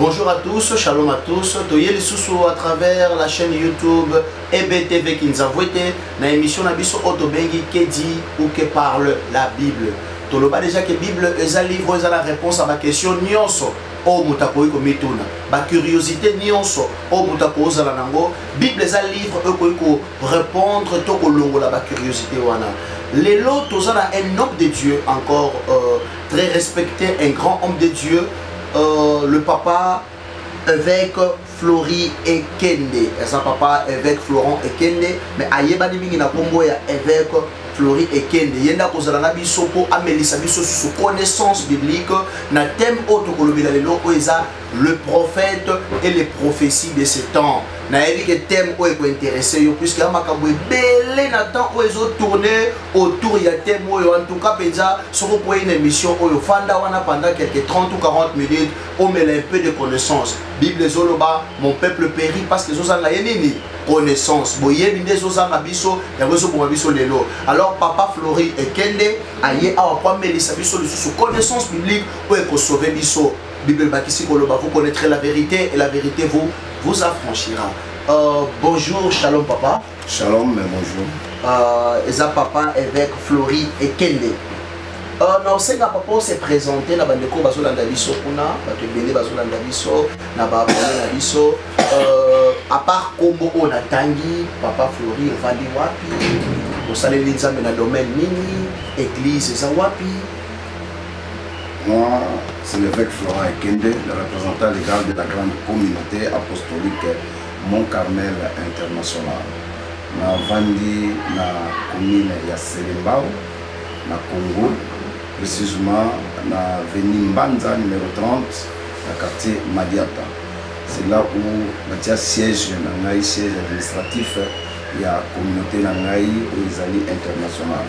Bonjour à tous, shalom à tous. Toye lisusu à travers la chaîne YouTube EBTV Kinzavwete na émission na biso oto bengi que dit ou que parle la Bible. Toloba déjà que Bible eza livre eza la réponse à ma question nionso oyo moto akoki komituna bacuriosité nyonso oyo moto akozala na yango bible eza livre oyo ekoki korépondre to kolongola bacuriosité wana lelo toza na un homme de dieu encore euh, très respecté, un grand homme de Dieu, euh, le papa évêque Flori Ekende. Et ça, papa évêque Florent Ekende, mais ayebani mingi na kombo ya évêque Flori Ekende. Yenda kozala na biso po amelisa biso sur connaissance biblique na thème autre kolobela lelo oyo eza le prophète et les prophéties de ce temps nayebi ke thème oyo ekointeresse yo puisque ya makambo ebele na temps oyo ezotourne autour ya thème oyo en tout cas mpenza soki okwei na émission oyo fanda wana pendant quelque 30 ou 40 minutes omela un peu de connaissance bible ezoloba mon peuple péri parce que ezozanga ye nini connaissance boyebi nde ezozanga biso yango ezoboma biso lelo alors papa flori ekende aye awa po amelisa biso lisusu connaissance biblique oyo ekosauve biso Bible ebakisi koloba vous connaîtrez la vérité et la vérité vous vous affranchira. Euh, bonjour, shalom papa. Shalom, mais bonjour. Euh, eza papa évêque Flori et Kende. Euh, na osenga papa ose présente na bandeko bazolanda biso kuna bato ebele bazolanda biso na baabone na biso euh, apart kombo oyo natangi papa flori evandi wapi osaleli nzambe na domaine nini église eza wapi Moi, c'est l'évêque Florent Ekende, le représentant légal de la grande communauté apostolique Mont Carmel International. Na vandi na commune ya Selembao, na Congo, précisément na veni Mbanza numéro 30, na quartier Madiata. C'est là où batia siège na ngai, siège administratif ya communauté na ngai oyo ezali internationale.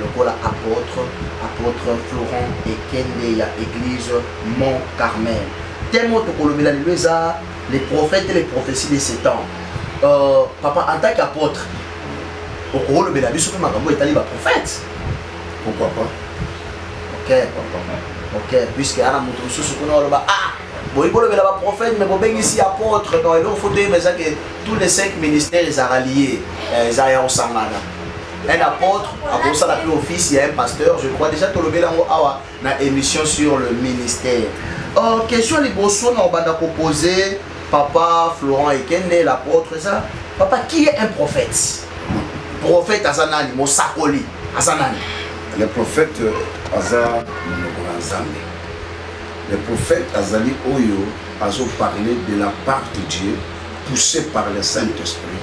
lokola apôtre apôtre florent ekende ya église mont carmel teme oyo tokolobela lelo eza les prophètes et les prophéties de ce temps euh, papa en tant qu'apôtre okolobela biso mpe makambo etali baprophète pourquoi pas ok ok puisque ana moto mosusu kuna oloba ah boyi bolobela baprophète mais bobengisi apôtre donc eloko fo toyeba eza ke tous les cinq ministères ezalaka lie eh, eza ya kosangana un apôtre akosala mpe office ya un pasteur je crois déjà tolobeli yango awa na émission sur le ministère oh, question liboso na obanda kopose papa florent ekende l'apôtre eza papa qui est un prophète prophète aza nani mosakoli aza nani le prophète aza monoko na nzambe le prophète azali oyo azoparle de la part de dieu poussé par le saint esprit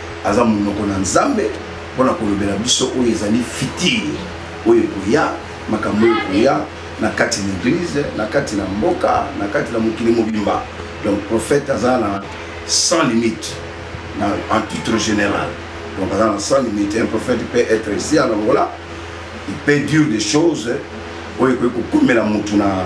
aza monoko na nzambe mpo na kolobela biso oyo ezali fitire oyo ekoya makambo oyo ekoya na kati na eglize na kati na mboka na kati na mokili mobimba donc prophète aza na sans limite na, en titre général donc aza na sans limite un prophète peut être ici en angola il peut dire des choses oyo ekoki kokomela motu na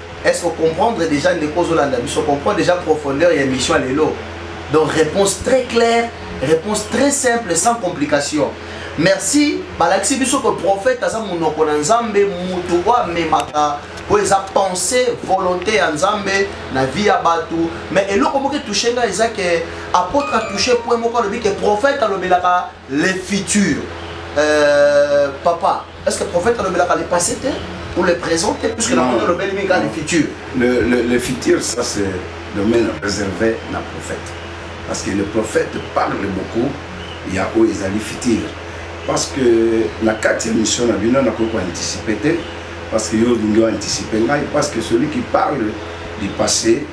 est ce que comprendre déjà ndeko ozolanda biso comprendre déjà profondeur ya émission ya lelo donc réponse très claire réponse très simple sans complication merci balakisi biso que prophète aza monoko na nzambe motu oyo amemaka oyo eza pensée volonté ya nzambe na vie ya bato mais eloko moko etouche ngai eza ke apôtre atouche point moko alobi ke prophète alobelaka le futur euh, papa est ce que prophète alobelaka le passé te ou le présent te puisque na moni olobeli mingi le futur le, le, le futur ça c'est domaine réservé na prophète parce que le prophète parle beaucoup ya oyo ezali futur parce que na kati ya mission na bino nakoki koanticipe te parce que yo olingi oanticipe ngai parce que celui qui parle du passé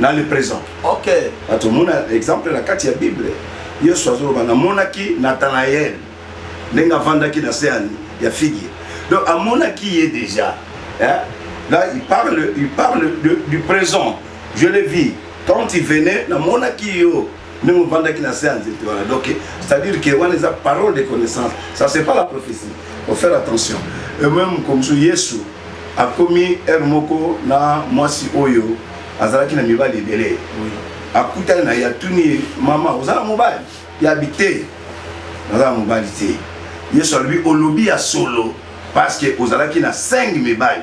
na le présent ok bato omona exemple na kati ya bible yesu azoloba namonaki nathanael ndenge avandaki na se ya figi donc amonaki ye déjà hein? là il parle, il parle de, du présent je le vis quand il venait namonaki yo meme ovandaki na se ya nzete wana donc c'est à dire que wana eza parole de connaissance ça c'est pas la prophétie faut faire attention et même comme so yesu akomi heure moko na mwasi oyo azalaki na mibali ebele akutani na ye atuni ye mama oza na mobali ya bite naza na mobali te yesu alobi olobi ya solo parce que ozalaki na 5 mibali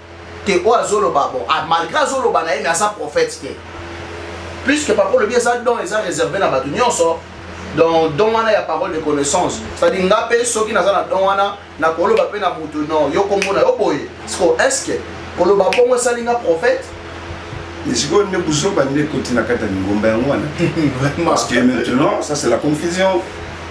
te oyo azoloba bon ah, malgré azoloba na ye mais aza prophète te puisque papa olobi eza don eza réservé na bato nyonso donc don wana ya parole de connaissance c'est-à-dire nga mpe soki naza na don wana nakoloba mpe na moto no yo kombo na yo boye siko est ce que koloba bongo esali nga prophète sikoyo nde buzoba nde ekoti na kati ya lingomba yango wana parce que maintenant ça c'est la confusion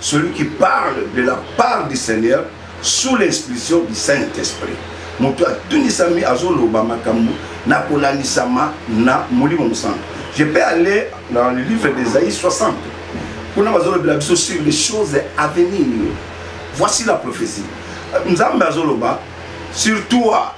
celui qui parle de la part du seigneur sous l'inspiration du saint esprit moto atundisami azoloba makambo na kolandisama na molimo mosantu je peux aller dans le livre d'esaïe 60 kuna bazolobela biso sur les choses à venir voici la prophétie nzambe azoloba sur toi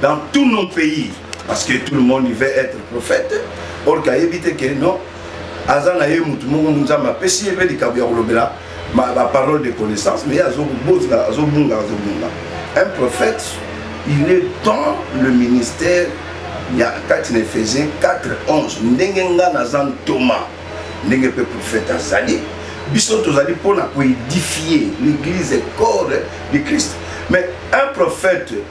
dans tous nos pays parce que tout le monde il veut être prophète or kayebi te que non aza na ye motu moko nzambe apesi ye mpe likambo ya kolobela baparole de connaissance mais azobotla azobunga azobunga un prophète il est dans le ministère ya kati na efesien 4 11 ndenge ngai naza ntoma ndenge mpe prophète azali biso tozali mpo na koedifie l'église corps de christ mais un prophète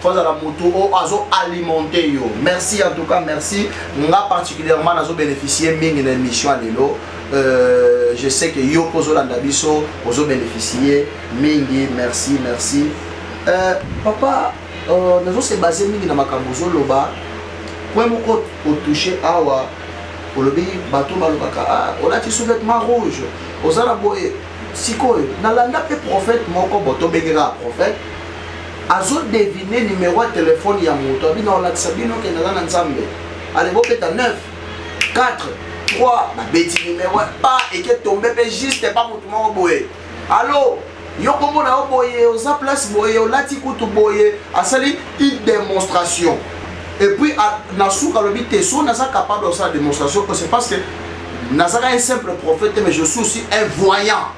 faut azala moto oyo azo alimente yo merci en tout cas merci nga particulièrement nazo bénéficier mingi na émission ya lelo euh, je sais que yo mpo ozolanda biso ozo bénéficier mingi merci merci euh, papa euh, nazo se base mingi na makambo ozoloba point moko otouche awa olobi bato balobaka ah, olati sous-vêtement rouge oza na boye sikoyo nalanda mpe prophète moko bo tobengeka prophète azo devine numero ya telefone ya moto abino alakisa bino kende aza na nzambe ale bobeta 9 4 3 babeti numero pa eke tombe mpe juste pa motu moko boye alo yo komona yo boye oza place boye olati kutu boye asali une démonstration et puis na suka alobi te so naza capable osala démonstration c'est parce que nazaka un simple prophète mais je suis aussi un voyant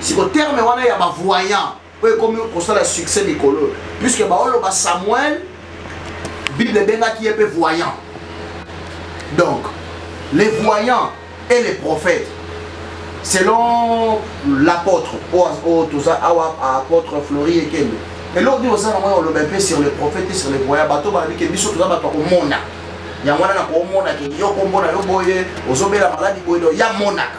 siko terme wana ya bavoyant oyo ekomi kosala succès mikolo oyo puiske baoloba samuel bible ebengaki ye mpe voyant donc les voyants et les prophètes selon l'apôtre oyo toza awa apôtre flori ekende eloko nini oza nango ya oloba mpe sur les prophètes et sur les voyants bato balobi ke biso toza bato ya komona yango wana na komona ke yo kombo na yo boye ozobela maladi boye do ya monaka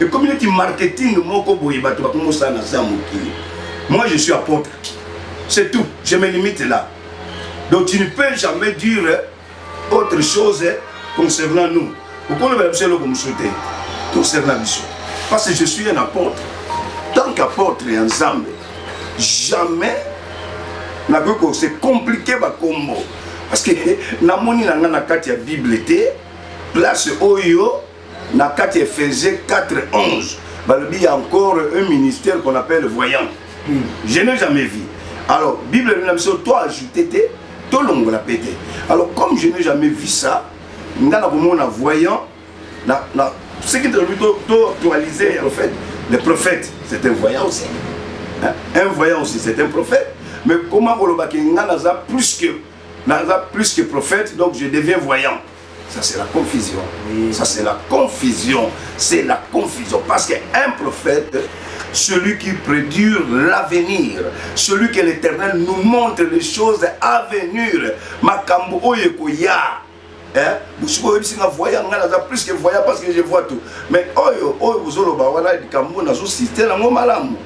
ekomi neti marketing moko boye bato bakomi kosala na za mokili moi je suis apôtre c'est tout je me limite là donc tu ne peux jamais dire autre chose concernant nous okolobela biso eloko mosusu te concernant biso parce que je suis un apôtre tant qu'apôtre ya nzambe jamais nakoki ko se compliquer bakombo parce que namoni na ngai na kati ya bible te place oyo na kati efese 411 balobi ya encore un ministère qu'on appelle voyant hmm. je n'ai jamais vu alors bible elobi na biso to ajoute te tolongola mpe te alors comme je n'ai jamais vu ça nga na komona voyant na, na ce qui tolobi toactualise en fait le prophète c'est un voyant aussi hein? un voyant aussi c'est un prophète mais comment kolobaki nga naza plus que naza plus que prophète donc je deviens voyant Ça c'est la confusion. Oui. Ça c'est la confusion. C'est la confusion. Parce qu'un prophète, celui qui prédure l'avenir, celui que l'Éternel nous montre les choses à venir. Makambo oye koya. Hein? Bosuko oyebisi nga voya nga naza plus que voya parce que je vois tout. Mais oyo oyo bozoloba wana likambo nazo citer nango malamu.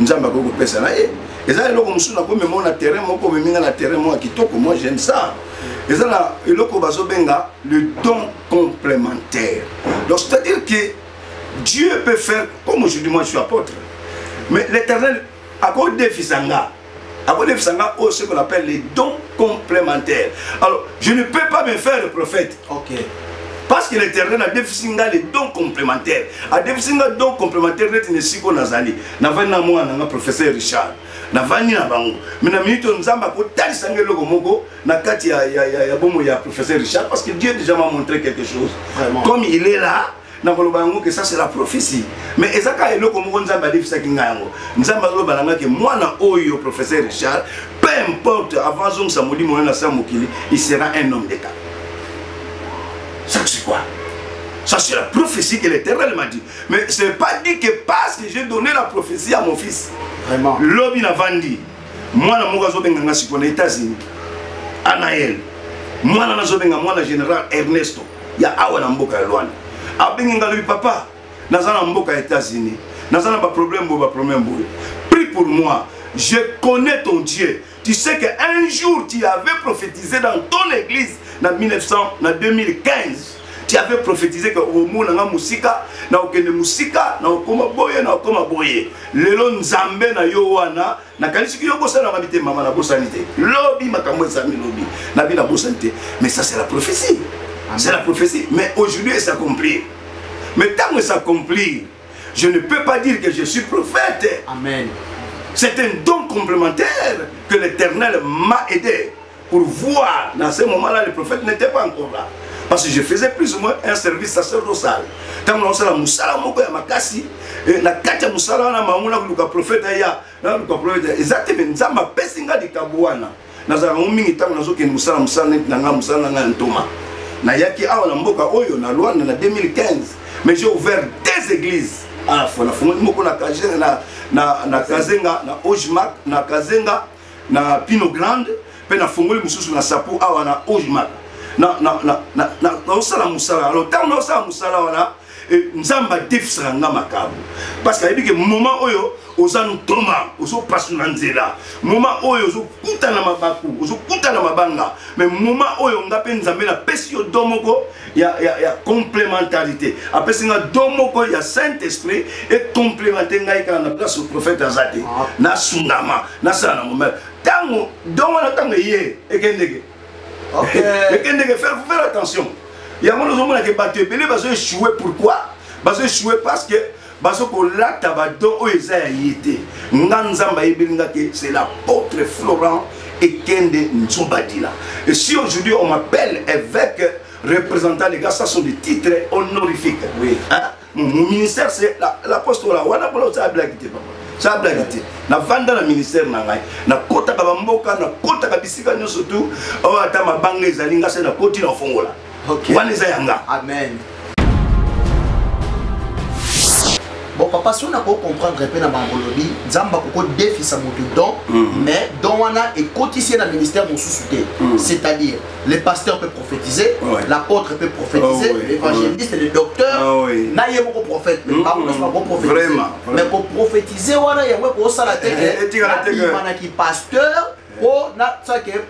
nzambe akoki kopesa na ye eza eloko mosusu nakomema na terrain moko omemi nga na terrain moko ya kitoko moi j'aime ça eza na eloko bazobenga le don complémentaire donc c'est à dire que dieu peut faire comme aujourd'hui moi je suis apôtre mais l'éternel akodefisa nga akolefisa nga oyo ce qu'on appelle les dons complémentaires alors je ne peux pas me faire le prophète okay. parce que l'éternel adefisi nga les dons complémentaires adefisi nga don complémentaire neti na esika oyo nazali navandi na mwana nanga professeur richard navandi na bango me na minute oyo nzambe akotalisa nga eloko moko na kati ya, ya, ya, ya bomoi ya professeur richard parce que dieu déjà m'a montré quelque chose Vraiment. comme il est là nakoloba yango ke ça c'est la prophétie mais eza kaka eloko moko nzambe adefisaki ngai yango nzambe azoloba na ngai ke mwana oyo professeur richard peu importe avant azongisa molimo oyo na se ya mokili il sera un homme d'état ça c'est quoi Ça, c'est la prophétie que l'Éternel m'a dit. Mais ce n'est pas dit que parce que j'ai donné la prophétie à mon fils. Vraiment. Lobby n'a vendu. Moi, je suis venu aux États-Unis. Anaël. Moi, je suis venu au général Ernesto. ya awa na mboka ya lwanda abengi nga lobi papa naza na mboka ya états-unis naza na baproblème boye baproblème boye prie pour moi je connais ton dieu tu sais que un jour tu avais prophétisé dans ton église na 1900 na 2015 tu avais prophétisé que omona nga mosika na okende mosika na okoma boye na okoma boye lelo nzambe na yo wana nakanisiki yo bosani na mabi te mama nabosani te lobi makambo ezami lobi nabi nabosani te mais ça c'est la prophétie c'est la prophétie mais aujourd'hui elle s'accomplir mais ntango elle s'accomplir je ne peux pas dire que je suis prophète amen c'est un don complémentaire que l'éternel m'a aidé pour voir dans ce moment là le prophète n'était pas encore là parce que je faisais plus ou moins un service sacerdotal ntango naosala mosala moko ya makasi eh, na kati ya mosala wana mango nakoluka profete aya nakoluka profete eza te me nzambe apesi ngai likambo wana nazalaka ngo mingi ntango nazokende mosala mosala neti na ngai mosala na ngai ya ntoma nayaki awa na mboka oyo na lwanda na 2015 mais j'ai ouvert deux églises à la fois nafungoli moko na kazenga na, na, na, kazenga, na ojmak na kazenga na pino grande mpe nafongoli mosusu na sapo awa na ojmak naosala mosala wana ntango naosala mosala wana eh, nzambe adefisaka nga makambo parce que ayebi ke moment oyo oza ntoma ozopasula nzela moment oyo ozokutana mabaku ozokutana mabanga mais moment oyo nga mpe nzambe napesi yo do moko ya, ya, ya complémentarité apesi nga do moko ya saint esprit ecomplémente ngai kaka na place prophète aza te ah. nasungama nasala na momele ntango do wana ntango eye ekendeke ekendeke faire faire attention yango nozomonake bato ebele bazo échouer pourquoi bazo échouer parce que bazo kolata badon oyo eza ya ye te nga nzambe ayebeli nga ke c'est l'apôtre florent ekende nzobadila et si aujourd'hui on m'appelle évêque représentant les gars ça sont des titres honorifiques oui. hein? mon, mon ministère c'est l'apostola la, wana bola oza blague te papa ça blague te navanda na ministère na ngai nakotaka bamboka nakotaka bisika nyonso tu oyo ata mabanga ezali ngai se nakoti na fongola okay. wana eza yanga amen bon papa soki nakoki comprendre mpe na bango olobi nzambe akoko defisa moto don mm. mais don wana ekotisi ye na ministère mosusu te mm. c'est-à-dire le pasteur peut prophétiser l'apôtre peut prophétiser oh, l'évangéliste le docteur oh, na ye moko prophète mais mm, bango nyonso bakoprophétise mais koprophétise wana yango ekosala te ke eh, eh, eh, nabimanaki pasteur mpo nasake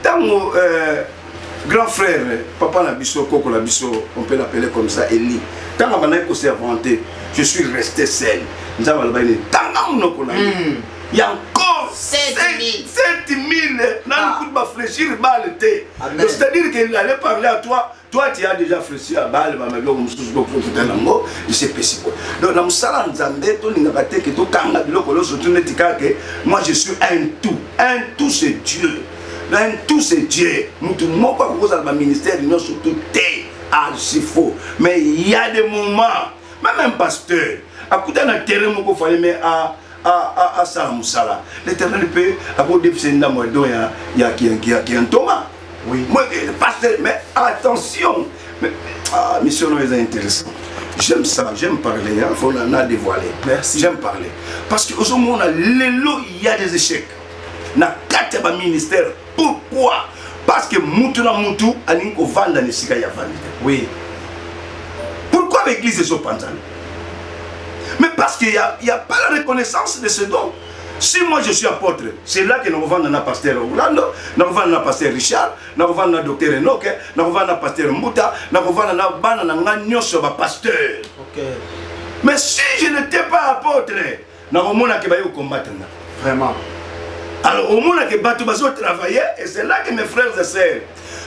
ntango euh, grand frère papa na biso koko na biso on peut l'appeler comme ça eli ntango abandaki koservante je suis resté seul nzambe alobaki nini tanga monoko na ye hmm. ya encore 7000 nani ah. kutu baflechir bale te c'est-à-dire qu'il allait parler à toi toi tu as déjà flechi ya bale bama biloko mosusu boprofita nango esepesi boye donc na mosala ya nzambe tolingaka te ke tokanga biloko nyonso tu neti kaka ke moi je suis un tout un tout c'est dieu un tout c'est dieu motu moko akoki kozala baministère nyonso tout te archi ah, faux mais il y a des moments même un pasteur akuta na terrain moko fale mais a ah, asala mosala l'éternel mpe akodefisa ndambo ya don ya ntoma pasteur mais attention ah, mission oyo eza intéressant j'aime ça j'aime parler hein, faut na dévoiler merci j'aime parler parce que ozomona lelo il y a des échecs na kati ya baministère pourquoi parce que mutu na mutu alingi kovanda na esika ya vandi te oui pourquoi baeglise ezopanzana mais parce que ya, ya pas la reconnaissance de ce don si moi je suis apôtre c'est là que nakovanda na pasteur orlando nakovanda na pasteur richard nakovanda na docteur enoke nakovanda na pasteur mbuta nakovanda na bana na ngai nyonso ya bapasteur okay. mais si je n'étais pas apôtre Na komona ke baye ko combattre nga. Vraiment. Alors omona ke bato bazo travailler et c'est là que mes frères et sœurs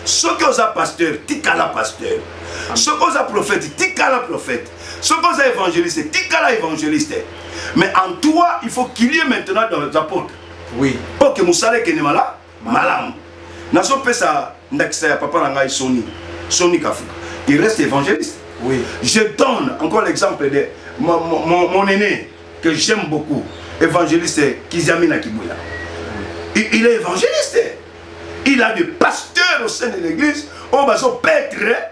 soki oza pasteur tikala pasteur soki oza prophète tikala prophète soki oza évangéliste tikala évangéliste mais en toi il faut qu'il y ait maintenant dans les apôtres oui mpo ke mosala ekende malamu malamu nazopesa ndakisa ya papa na ngai soni soni kafuka il reste évangéliste oui. je donne encore l'exemple de mon, mon, mon aîné que j'aime beaucoup évangéliste kiziamina kibuya il, il est évangéliste il a des pasteurs au sein de l'église oyo oh, bazopetre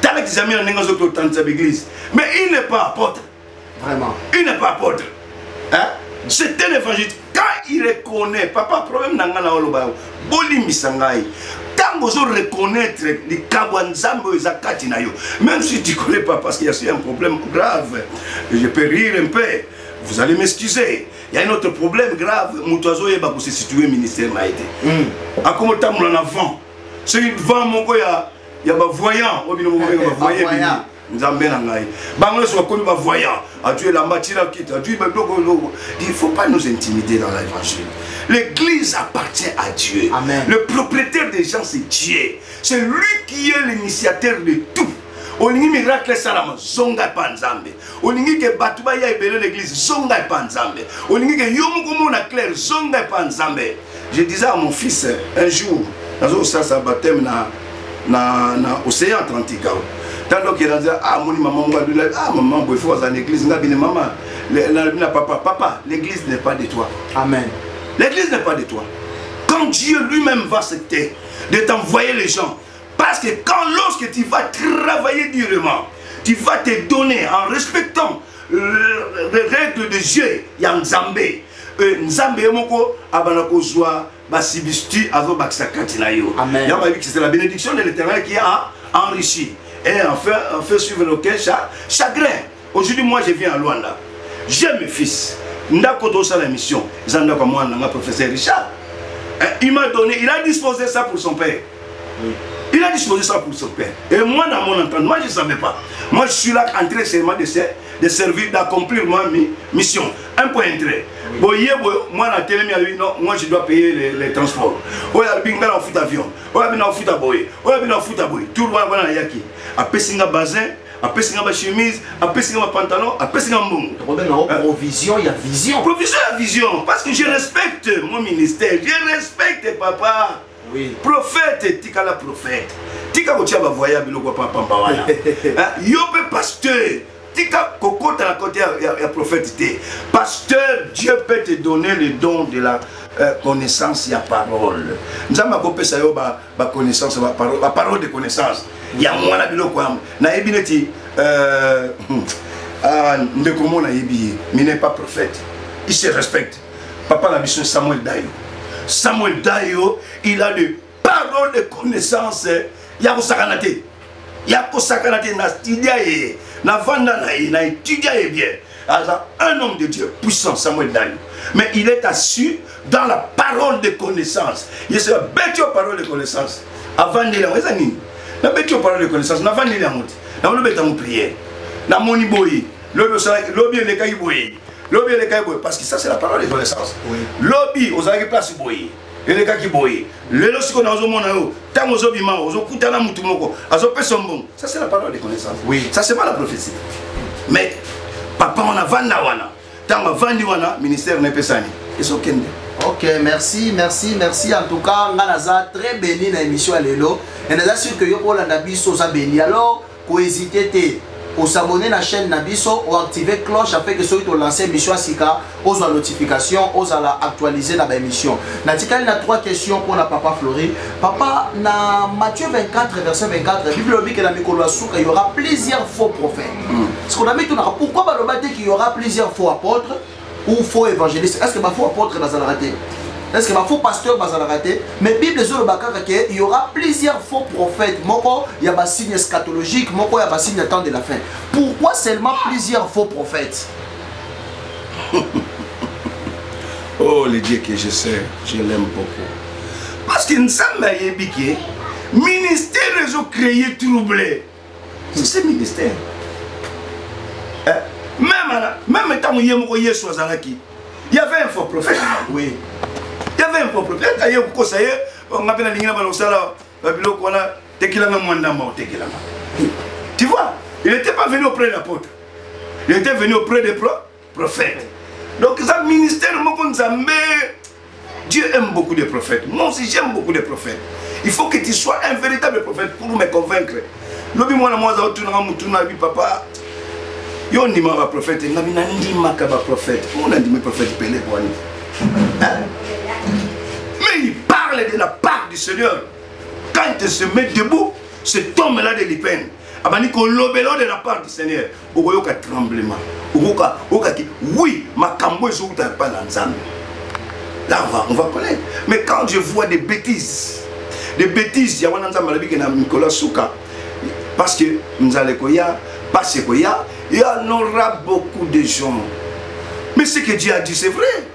tala kizami na ndenge azoki otandisa baeglise mais il n'est pas apôtre vraiment il n'est pas apôtre hein? c'est un évangéliste quand il reconnaît papa problème na ngai na oloba yango bolimbisa ngai ntango ozo reconnaître likambo ya nzambe oyo eza kati na yo même si tu connais pas parce qu'il y a un problème grave je peux rire un peu vous allez m'excuser il y a un autre problème grave moto azoyeba kose situe ministère na ye te akomotambola na vent soki vent moko ya ya bavoyant oyo bino mokobenga bavoye bini nzambe na ngai bango nyonso bakomi bavoyant atu elamba atina kiti atu babiloko eloko il faut pas nous intimider dans l'évangile l'église appartient à dieu Amen. le propriétaire des gens c'est dieu c'est lui qui est l'initiateur de tout olingi miracle esalama zonga epa nzambe olingi ke bato baya ebele na eglise zonga epa nzambe olingi ke yo moko mona claire zonga epa nzambe je disais à mon fils un jour nazosasa baptême na, na, na océan atlantique ao ntango okenda nzela ah, amoni mama moko alula ah, mama boye fo aza na église nga bine mama nalobi na papa papa l'église n'est pas de toi amen l'église n'est pas de toi quand dieu lui-même va accepter de t'envoyer les gens Parce que quand, lorsque tu vas travailler durement, tu vas te donner en respectant euh, les règles de Dieu, ya Nzambe. Euh, Nzambe yemoko abana kozwa ba substitut azo bakisa kati na yo. Amen. Ya babi c'est la bénédiction de l'Éternel qui a enrichi et en fait, en fait suivre nos chagrin. aujourd'hui moi je viens à luanda j'ai mes fils ndako tozosala émission eza ndako ya mwana na nga professeur richard eh, il m'a donné il a disposé ça pour son père oui. il a disposé ça pour son père et moi dans mon entente moi je ne savais pas moi je suis là entré seulement de, ser de servir d'accomplir moi mi mission un point entré boye boye mwana atelemi alobi non moi je dois payer les, les transports oyo alobi ngai na ofuta avion oyo abi na ofuta boye oyo abi na ofuta boye tour wana wana nayaki apesi nga basin apesi nga bachemise apesi nga bapantalon apesi nga mbongo tokobengango euh, provision ya vision provision ya vision parce que je respecte mon ministère je respecte papa oui. prophète etikala prophète tika kotia bavoya biloko ya pamba wana yo mpe pasteur tika kokota na kote ya, ya, ya prophète te pasteur dieu peut te donner le don de la euh, connaissance ya parole nzambe akopesa yo ba ba connaissance ba parole ba parole de connaissance ya mwana biloko yango nayebi neti euh, hmm, ah, ndeko mo nayebi ye mais n'est pas prophète il se respecte papa na biso samuel dayo samuel dayo il a de parole de connaissance ya kosakana te ya kosakana te na studia ye navanda na ye na etudia ye bien aza un homme de dieu puissant samuel dani mais il est assu dans la parole de connaissance ye soki abeti yo parole de connaissance avandeli yango eza nini nabeti yo parole de connaissance navandeli yango te nango nobeta yango priere namoni boye lobi osalaki lobi elekaki boye lobi elekaki boye parce que ça c'est la parole de connaissance lobi ozalaki place boye elekaki boye lelo siko nazomona yo ntango ozobima ozokuta na motu moko azopesa mbongo ça c'est la parole de connaissance oui. ça c'est pas la prophétie mais papa wana vanda wana ntango avandi wana ministère na epesani ezokende ok merci merci merci en tout cas ngai naza très béni na émission ya lelo et naza sur que yo mpo olanda biso oza béni alors ko hésiter te o s'abonner na chaîne na biso o activer cloche afin que soki to lancer émission ya sika ozwa notification ozala actualiser na ba émission natikali na trois questions mpo na papa Flori papa na Matthieu 24 verset 24 bible elobi ke na mikolo ya suka y aura plusieurs faux prophètes mm. sikoyo na mitunaka pourquoi baloba te qu'il y aura plusieurs faux apôtres ou faux évangéliste est ce que ba faux apôtre bazalaka te est ce que ba faux pasteur bazalaka te mais bible ezoloba kaka ke y aura plusieurs faux prophètes moko ya basigne eschatologique moko ya basigne ya temps de la fin pourquoi seulement plusieurs faux prophètes oh le dieu que je sais je l'aime beaucoup parce que nzambe ayebi ke ministère ezocreye trouble ce ministère eh, même ala même ntango ye moko yesu azalaki y avait un faux prophète oui y avait un faux prophète aye kokosa ye oh, nga mpe nalingi na bana kosala euh, biloko wana tekelanga mwa ndamba otekelanga tu vois il n'était pas venu auprès de l'apôtre il était venu auprès de pro prophète donc eza ministère moko nzambe Dieu aime beaucoup les prophètes. Moi aussi, j'aime beaucoup les prophètes. Il faut que tu sois un véritable prophète pour me convaincre. Lobi mwana mwaza otunanga mutu na bi papa. Yo ndima ba prophète, ngabi na ndima ka ba prophète. On a ndimi prophète Pelé bwani. Hein? Mais il parle de la part du Seigneur. Quand il se met debout, cet homme-là de l'Ipen, abani ko lobelo de la part du Seigneur. okoyoka tremblement okoka okaki oui makambo ezowuta epai na nzambe là on va, on va connaître mais quand je vois des bêtises des bêtises ya wana nzambe alobi ke na mikolo ya suka parce que nzala ekoya mpasi ekoya il y en aura beaucoup de gens mais ce que dieu a dit c'est vrai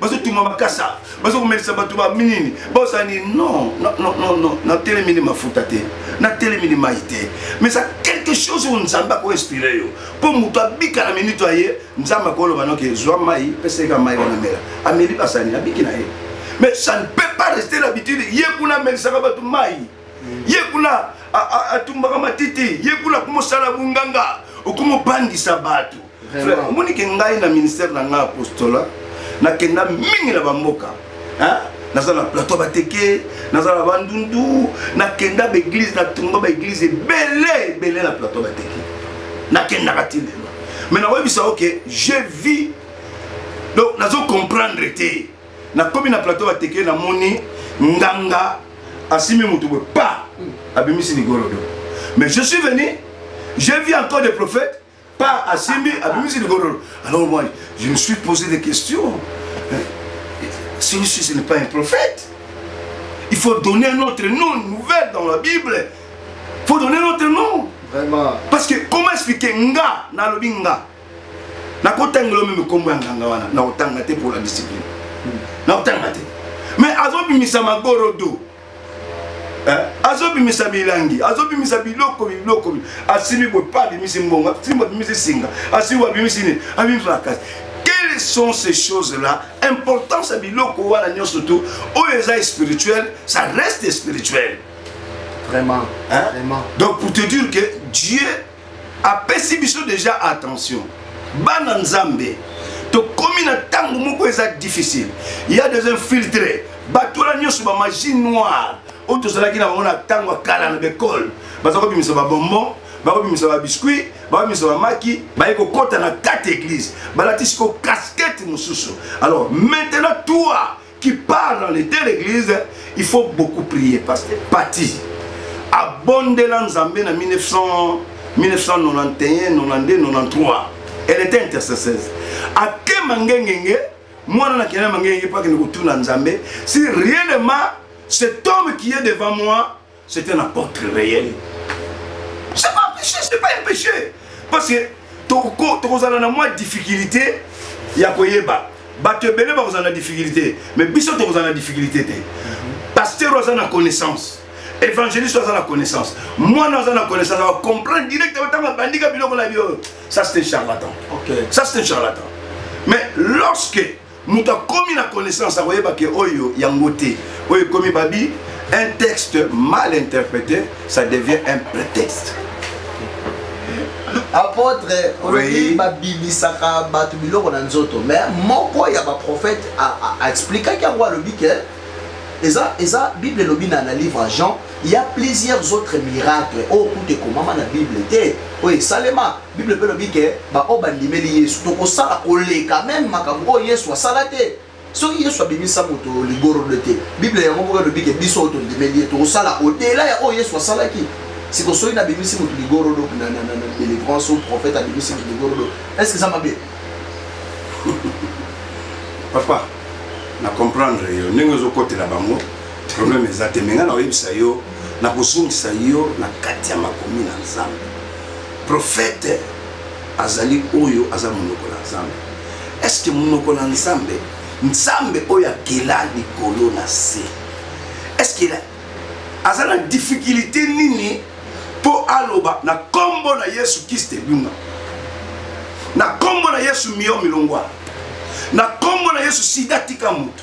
bazotuma bakasa bazokomelisa bato baminini bozani non non natelemini mafuta te natelemini mai te mais eza quelque chose oyo nzambe akoinspire yo mpo moto abika na minito ya ye nzambe akoloba noke zwa mai peseka mai wana mela ameli basani abiki na ye mais ça ne peut pas rester l'habitude ye kuna amelisaka bato mai ye kuna atumbaka matiti ye kuna akomosala bonganga okomobangisa bato frère omoni ke ngai na ministère na ngai apostola nakenda mingi na bamboka naza na plateau bateke naza na bandundu nakenda baeglise natonga baeglise ebele ebele na plateau bateke nakendaka ti lelo me nakoyebisa oke je vis donc nazo comprendre te nakomi na plateau bateke namoni nganga asimi motu boye pa abimisi ligolo do mais je suis venu je vis encore des prophètes Par asimbi abimisi ligololo. Alors moi, je me suis posé des questions. Hein? Si Jésus n'est pas un prophète, il faut donner un autre nom, une nouvelle dans la Bible. Il faut donner un autre nom. Vraiment. Parce que comment expliquer nga na lobi nga nakotangelo meme nkombo ya nganga wana nakotanga te pour la discipline hmm. nakotanga te mais azobimisa magorodo eh, azobimisa milangi azobimisa biloko biloko asimi boye pa abimisi mbongo asimi abimisi singa asimi abimisi nini abimisi makasi quelles sont ces choses là importance ya biloko wana nyonso tu oyo eza spirituel ça reste spirituel vraiment, hein? vraiment. donc pour te dire que dieu apesi biso deja attention bana nzambe tokomi na ntango moko eza difficile ya des infiltre batola nyonso bamagie noire oyo tozalaki na bango na ntango ya kala na bekole baza kobimisa babonbon bakobimisa babiskuit bakobimisa bamaki baye kokɔta na kati eglise balatisi ko kaskete mosusu alors maintenant toi qui part dans les deux l'église il faut beaucoup prier pasteur pati abondela nzambe na 1900 1991 92 93 elle était intercesseuse akema ngengenge mwana na kenda mangenge mpo akende kotuna nzambe si réellement cet homme qui est devant moi C'est un apôtre réel. C'est pas un péché, c'est pas un péché. Parce que tokozala na mwa difficulté ya koyeba bato ebele bakozala na difficulté mais biso tokozala na difficulté te pasteur oyo aza na connaissance évangéliste oyo aza na connaissance mwana aza na connaissance acomprendre directement ntango abandika biloko na bio ça c'est un charlatan okay. ça c'est un charlatan mais lorsque moto akomi na connaissance akoyeba ke oyo yango te oyo ekomi babi un texte mal interprété ça devient un prétexte apôtre olobi babimisaka bato biloko na nzoto mais moko ya baprophète aexplikaki yango alobi ke eza eza bible elobi na na livre jean il y a plusieurs autres miracles oyo kuta ekomama na bible te oyo esalema bible mpe elobi ke baoyo bandimeli yesu tokosala koleka meme makambo oyo yesu asala te soki yesu abimisa moto ligorodo te bible yango moko elobi ke biso oyo tondimeli ye tokosala odela ya oyo yesu asalaki siko soki nabimisi moto ligorodo na délivrance oyo prophète abimisi moto ligorodo est ce que eza mabe papa na comprendre yo ndenge ozokotela bango problème eza te me ngai nakoyebisa yo nakozongisa yo na kati ya makomi na nzambe Prophète azali oyo aza monoko na Nzambe. Est-ce que monoko na Nzambe, Nzambe oyo akela likolo na se. Est-ce que aza na difficulté nini mpo aloba na nkombo na yesu kristo ebima na nkombo na yesu mio milongwa na nkombo na yesu sida tika moto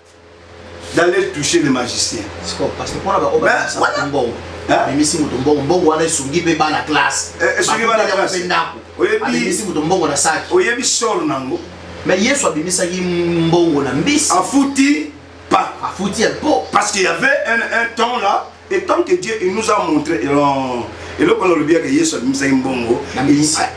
d'aller toucher les magiciens. C'est quoi Parce que pour la baroque, c'est un bon. amemisi moto mbongo mbongo wana esungi mpe bana classe eh, esungi bana classe mpe ndako amemisi moto mbongo na saki oyebi solo nango me yesu abimisaki mbongo na mbisi afuti pas afuti ya po parce qu'il y avait un, un temps là et tant que dieu il nous a montré non eloko wana olobi yaka yesu abimisaki mbongo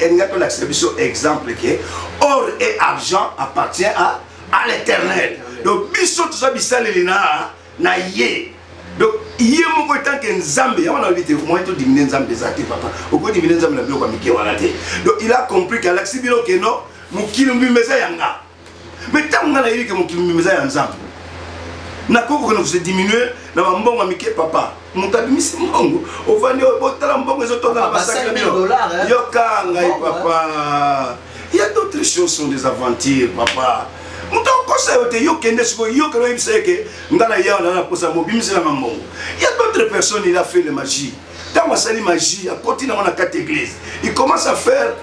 elinga tolakisa biso exemple ke or et argent appartient à, à l'éternel donc biso toza bisaleli na na ye donc ye moko etanke nzambe yango na lobi te moyen todimine nzambe eza te papa okodimine nzambe na biloko ya mike wana te donc il a compris ke alakisi bino ke no mokili mobimba eza yanga me ntango ngai nayebi ke mokili mobimba eza ya nzambe nakoki kokende kose diminue na bambongo ya mike papa moto abimisi mbongo ovandi oyo botala mbongo ezotonga na basaki bino yoka ngai papa ya d'autres choses sont des aventures papa moto akosa yo te yo kende sikoyo yokela oyebisa ye ke ngai na yawa naa na posa mobimisela nga mbongo ya d'autres personnes il a fait le magie ntango asali magie akoti nango na kati église il commence à faire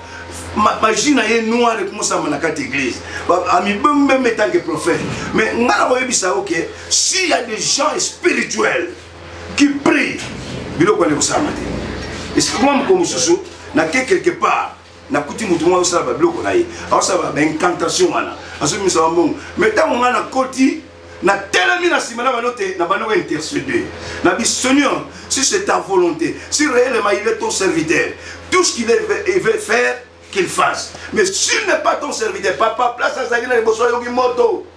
magie na ye noir ekomosama na kati église amibembembe etanke prophète mais ngai na koyebisa yo ke s'il y a des gens spirituels qui prient biloko wana ekosalama te esikoma moko mosusu nake quelque part nakuti motu moko azosala babiloko na ye azosala baincantation wana azobimisa bambongo mai ntango ngai nakoti natelemi na nsima na bano te na bano intercede na biseigneur si c'est ta volonté si réellement il est ton serviteur tout ce qu'il veut faire qu'il fasse mais s'il n'est pas ton serviteur papa place azali na liboso ayoki moto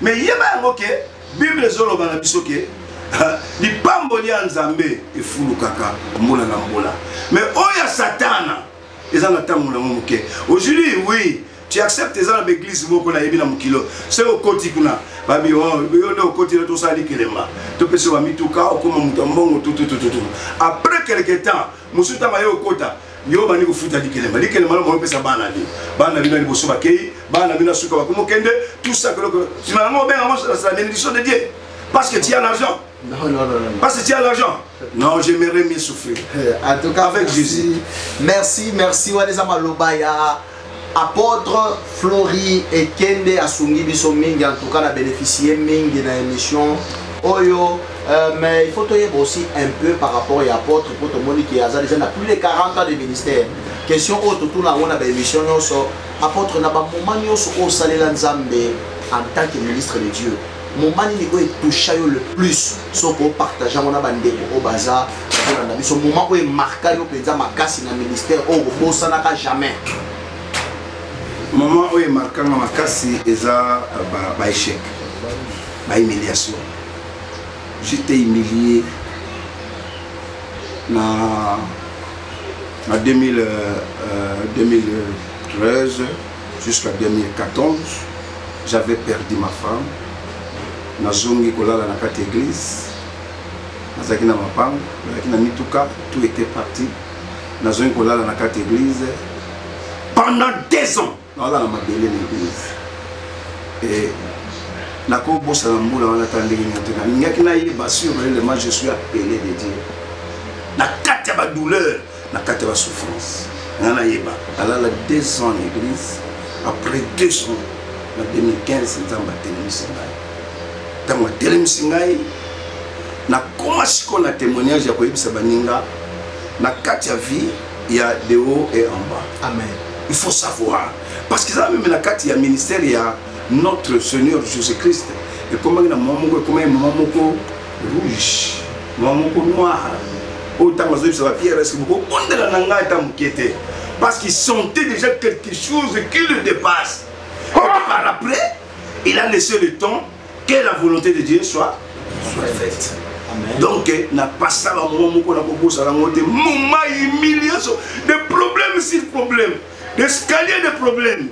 me yeba yango ke bible ezoloba na biso ke lipamboli ya nzambe efulukaka mbula na mbula me oyo ya satana eza na ntango nango moke ojuli wi tu accepte eza na baeglise moko nayebi na mokilo se okoti kuna babi oh, yo nde okoti na tosala likelemba topesi yo bamituka okoma moto ya mbongo tututututu après quelque temps mosusu ntango aye okota yo bandi kofuta likelemba likelemba lomoi opesa bana bino bana bino ya liboso bakei bana bino ya suka bakomi okende tusakeloko nsima yango obenga yango la bénédiction de dieu parce que tu as l'argent Non, non, non, non. Parce que tu as l'argent. Non, j'aimerais mieux souffrir. Euh, en tout cas, avec merci, Jésus. Merci, merci. Waleza Malobaya. Apotre Flori Ekende asungi biso mingi en tout cas na bénéficier mingi na émission oyo euh, mais il faut toyeba aussi un peu par rapport ya apotre mpo tomoni ke aza déjà na plus de 40 ans de ministère question oyo totuna yango na baémission nyonso apotre na bamoment nyonso oyo osalela nzambe en tant que ministre de dieu moment nini oyo etoucha yo le plus soki opartage yango na bandeko oyo baza kolanda biso moment oyo emarka yo mpenza makasi na ministère oyo kobosanaka jamais moment oyo emarkanga makasi eza euh, baéchec bahumiliation j'étais humilié na na 2000, euh, 2013 euh, jusqu'à 2014 j'avais perdu ma femme nazongi kolala na kati église nazalaki na mapango nazalaki na mituka tout était parti nazongi kolala na kati église pendant deux ans naolala na mabele na église et nakobosana mbula wana ata ndenge nini te nalingaki nayeba sur réellement je suis appelé de dieu na kati ya badouleur na kati ya basouffrance nga nayeba alala 2 ans na église après 2 ans na 2015 nzambe atelemisi ngai ntango atelemisi ngai nakoma sikoyo na témoignage ya koyebisa baninga na kati ya vie ya de haut et en bas amen il faut savoir parce que eza meme na kati ya ministère ya notre seigneur jésus christ ekomaki na mwa moko ekomaki mwa moko rouge mwa moko noir oyo ntango azoyebisa ba pierre eske bokobondela na ngai ata moke te parce qu'il sentait déjà quelque chose qui le dépasse oh! Et par après il a laissé le temps que la volonté de Dieu soit, soit faite Amen. donc eh, na pasa bamoma moko na kobosana yango te moma humiliation de problème sur problème d'escalier de problème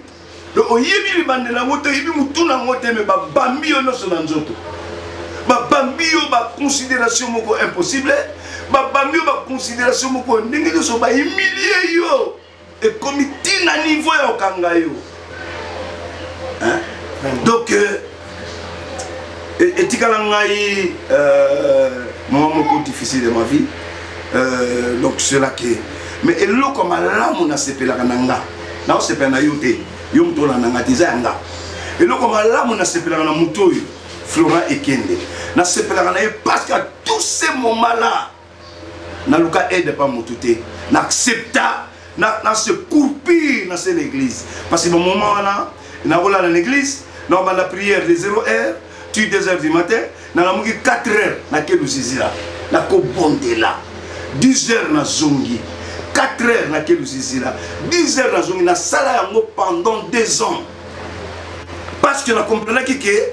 donc oyebi libandela yango te oyebi motu na yango te me babambi yo nyonso na nzoto babambi yo baconsidération moko impossible babambi yo baconsidération moko ndenge nyonso bahumilie yo ekomi ntina niveau ya okanga yo donc euh, e, etikala ngai euh, mwa moko difficile ya ma vie euh, donc cela ke mais eloko malamu nasepelaka na nga naosepela na yo te yo moto olanda nga te eza ya nga eloko malamu nasepelaka na moto oyo florent ekende nasepelaka na ye parce que à tout ce moment là naluka aide pa motu te na accepta na, na se courpir na se na église parce que bamoment wana nakolala na église nabanda prière de 0 heure tu 2 heures du matin nalamuki 4 heures nake lusizila nakobondela 10 heures nazongi 4 heures nake lusizila 10 heures nazongi nasala yango pendant 2 ans parce que na comprenaki ke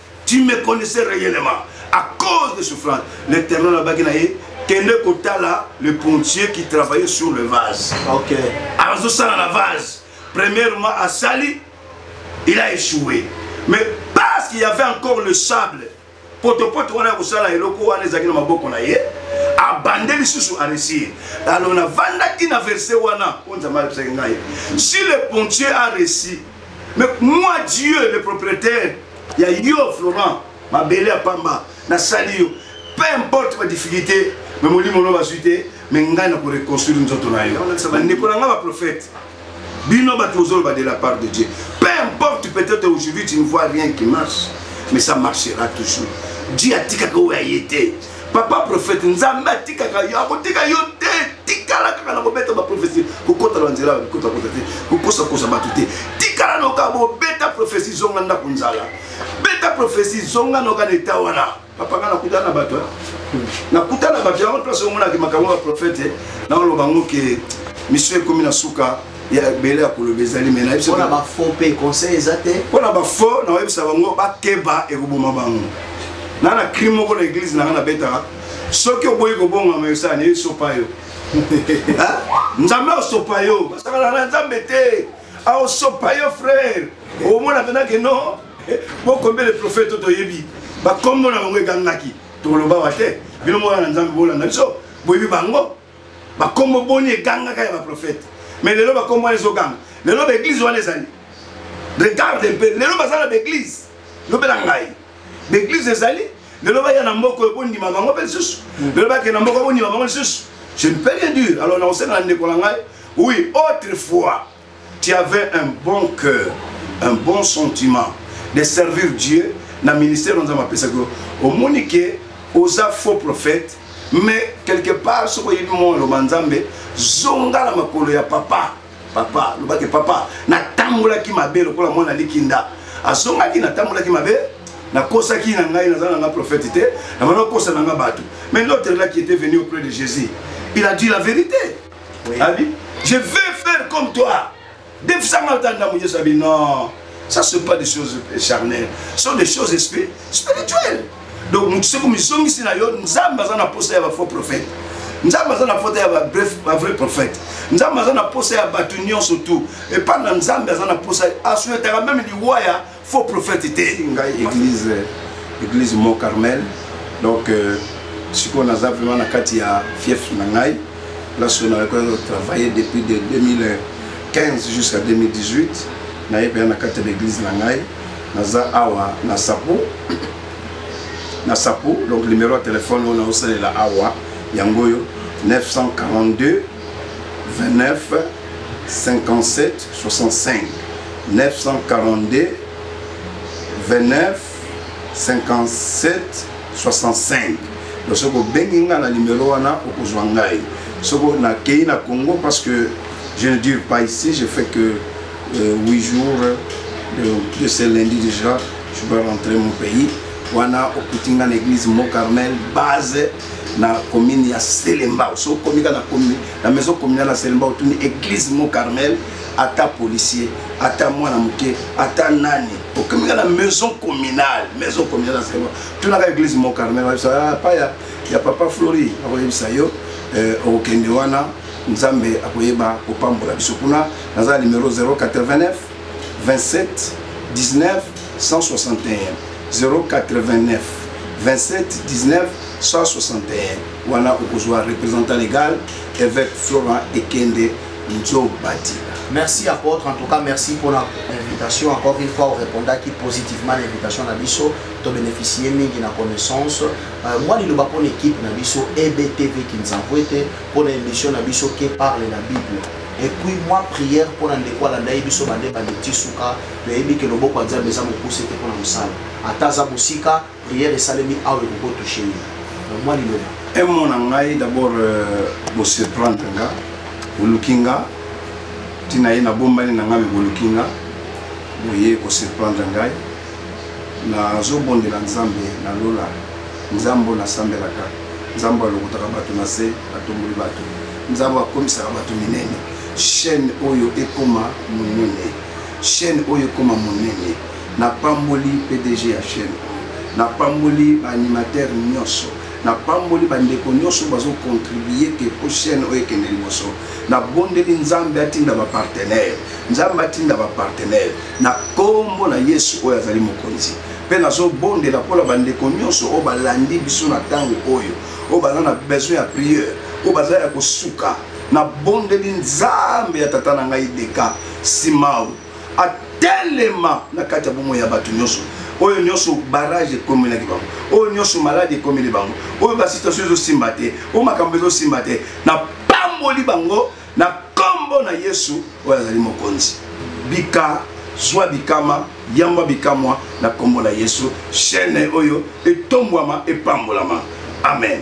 Tu me connaissais réellement à cause de souffrance. L'éternel a bagui naïe. Kende Kotala, le pontier qui travaillait sur le vase. Ok. Alors, je sens la vase. Premièrement, à Sali, il a échoué. Mais parce qu'il y avait encore le sable, potopoto wana kosala eloko wana ezalaki na maboko na ye abande lisusu aresir alors navandaki na verse wana oyo nzambe ayebisaki ngai si le pontier a resi mais moi dieu le propriétaire ya yo florent mabele ya pamba nasali yo peu importe badifficulté me molimo no bazwi te me ngai na koreconstruire nzoto na yo bandeko na ngai baprofete bino bato ozoloba de la part de dieu peu importe peut-être aujourd'hui tu ne vois rien qui marche mais ça marchera toujours dieu atikaka oyo aye te papa prophète nzambe atikaka yo akotika yo te tikala kaka na kobeta baprofesi kokota na nzela kotakota te kokosakosa bato te tikala noka bobeta profesi zonga ndako nzala beta profesi zonga noka na eta wana papanga nakutana na bato nakutana na bato yango place omonaki makambo ya baprofete naoloba ngo ke misio ekomi na suka ya ebele ya koloba ezali me nayebisapona bafaux mpe conseil eza te mpo na bafaux nakoyebisa bango bakeba ekoboma bango na na crime moko na eglize na ngai nabetaka soki oboyi kobongama yosala naye esopa yo nzambe aosopa yo basakana na nzambe te aosopa yo frere omona mpena ke no bokombe le prophète to toyebi bakombo na bango egangaki tokolobawa te bino moko na nzambe bolanda biso boyebi bango bakombo boni egangaka ya baprofete mais lelo bakombo wana ezoganga lelo baeglise wana ezali regarde mpe lelo baza na baeglise lobela ngai baeglise ezali lelo baya na mboka oyo bondima bango mpe lisusu hmm. lelo bakende na mboka bondima bango lisusu je ne peux rien dire alors nakosenga na ndeko na ngai oui autrefois Tu avais un bon cœur, un bon sentiment de servir Dieu na ministère on zama pesa ko omoni ke oza faux prophète mais quelque part ce soki oyebi mwa oloba nzambe zonga na makolo ya papa papa lobaki papa natambolaki mabe lokola mwana likinda azongaki natambolaki mabe nakosaki na ngai naza na nga prophète te namana kosa na nga bato mais l'autre là qui était venu auprès de jésus il a dit la vérité Abi, je vais faire comme toi. Defisanga tanda mu Yesu abi non. Ça c'est pas des choses charnelles, ce sont des choses spirituelles. Donc mutu seko mizongisi na yo Nzambe aza na posa ya ba faux prophètes. Nzambe aza na posa ya ba bref ba vrai prophète. Nzambe aza na posa ya batu nyonso tout. Et pas na Nzambe aza na posa aswetaka même liwa ya faux prophète te ngai église église mont carmel donc euh, sikoyo naza vraiment na kati ya fief na ngai place oyo nakoki kotravaille depuis de 2015 jusqu'à 2018 naye mpenza na kati ya baeglise na ngai naza awa na sapo na sapo donc numéro ya telefone oyo naosalela awa yango oyo 942 29 57 65 942 29 57 65 donc soki obengi ngai na nimero wana okozwa ngai soki nakei na congo parce que je ne dure pas ici je fais que euh, 8 jours de, de ce lundi déjà je dois rentrer mon pays wana okuti ngai na église mont carmel base na commune ya selembao so okomi kaka na commune na maison communale ya selembao otuni église mont carmel ata policier ata mwana moke ata nani okomi kaka na maison communale maison communale ya selembao tunaka église mont carmel bayebisa ah, pa ya, ya papa flori akoyebisa yo eh, okokende wana nzambe akoyeba kopambola biso kuna naza na numero 089 27 19 161 089 27 19 161 wana okozwa représentant légal évêque florent ekende nzobati merci apôtre en tout cas merci pour la invitation encore une fois orépondaki positivement na invitation na biso tobénéficie mingi na connaissance euh, mwa liloba mpo na équipe na biso ebtv kinzambo ete mpo na émission na biso ke parle la bible et puis mwa prière mpo na ndeko alanda ye biso bande bande ti suka toyebi ke loboko ya nzambe eza mokuse te mpo na mosala ata aza mosika prière esalemi awa ekoko touche ye na mwa liloba emo na ngai d'abord euh, bosurprendre nga boluki nga ntina ye nabombani na ngai me boluki nga boye kosurprendre ngai nazobondela nzambe na lola nzambe oyo nasambelaka nzambe alokotaka bato na se atomboli bato nzambe akomisaka bato minene chaîne oyo ekoma monene chaîne oyo ekoma monene napamboli pdg ya chaîne oyo napamboli baanimateur nyonso napamboli bandeko nyonso bazokontribue ke mpo chaîne oyo ekende liboso nabondeli nzambe atinda bapartenere nzambe atinda bapartenere na nkombo na yesu oyo azali mokonzi mpe nazobondela mpo na bandeko nyonso oyo balandi biso na ntango oyo oyo baza na besoin ya priere oyo baza ya kosuka nabondeli nzambe ya tata na ngai deka simao atelema na kati ya bomoi ya bato nyonso oyo nyonso barrage ekomelaki bango oyo nyonso maladi ekomeli bango oyo basituation ezosimba te oyo makambo ezosimba te napamboli bango na kombo na yesu oyo azali mokonzi bika zwa bikama yangwa bikamwa na kombo na yesu chaine oyo etombwama epambolama amen